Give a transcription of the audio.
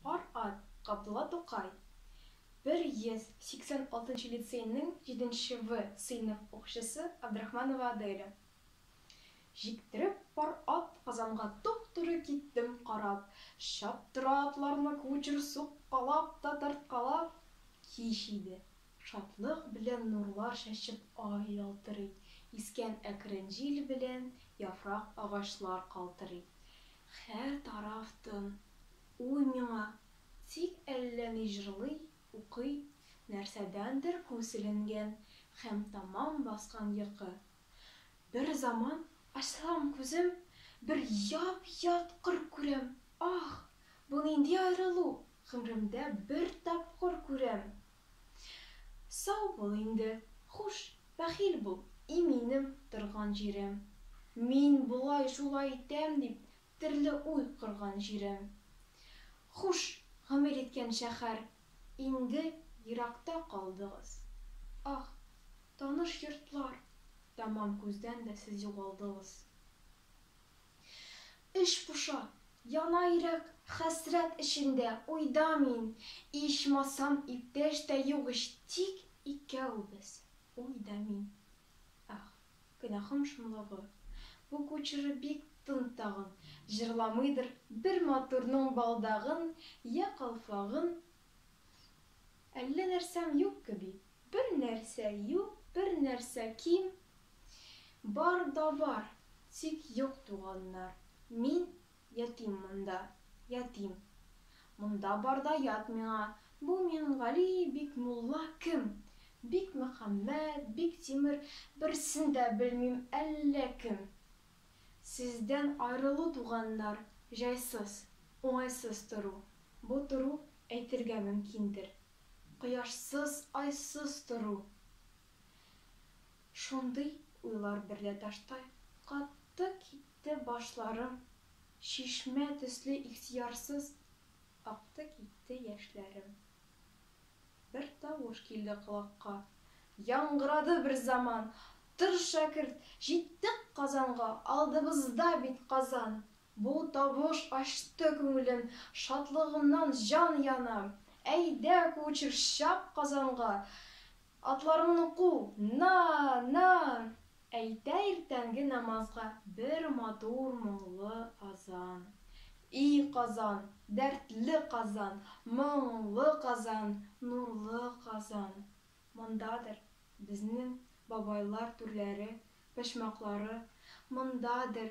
Пар ат, Габдулла Тукай, 186 нчы лицейның җиденче В сыйныф укучысы Абдрахманова Аделя. Җиктереп пар ат Казанга туп-туры киттем Карап, чаптыра атларны кучер Суккалап та тарткалап. Кич иде. Шатлык белән нурлар чәчеп Ай ялтырый, искән әкрен җил белән Яфрак агачлар калтырый. Хәр тараф тын, уй миңа, тик әллә ни җырлый, укый, нәрсәдәндер күселенгән һәм тәмам баскан йокы. Бер заман ачсам күзем, бер яп-ят кыр күрәм, ах, бу нинди аерылу, гомремдә бер тапкыр күрәм, Сау бул инде, хуш, бәхил бул, и минем торган җирем. Мин болай, шулай итәм дип терле уй корган җирем. Хуш, гомер иткән шәхәр, инде еракта калдыгыз. Ах, таныш йортлар, тәмам күздән дә сез югалдыгыз. Эч поша, яна йөрәк Хәсрәт эчендә, уйда мин. Ичмасам, иптәш тә юк ич Тик икәүбез, уй да мин. Ах, гөнаһым шомлыгы. Бу кучеры бик тын тагын, Җырламыйдыр бер матурның балдагын Йә калфагын Әллә нәрсәм юк кеби. Бер нәрсә юк, бер нәрсә ким, Бар да бар, тик юк туганнар. Мин, ятим монда, ятим. Монда бар да ят миңа, Бу Мингали бик мулла кем? Бик Мөхәммәт, бик Тимер, Берсен дә белмим әллә кем. Сездән аерылу туганнар, Җайсыз, уңайсыз тору. Бу тору, әйтергә мөмкиндер, Кояшсыз, айсыз тору. Шундый уйлар берлә таштай катты китте башларым, чишмә төсле ихтыярсыз акты китте яшьләрем. Бер тавыш килде колакка, яңгырады берзаман, Тор, шәкерт, җиттек Казанга, алдыбызда бит Казан! Бу тавыш ачты күңелем, шатлыгымнан җан яна. Әйдә, кучер, чап Казанга! Атларыңны ку! На! На! Әйтә иртәнге намазга бер матур моңлы азан. И Казан, дәртле Казан, моңлы Казан, нурлы Казан! Мондадыр безнең бабайлар түрләре, почмаклары, мондадыр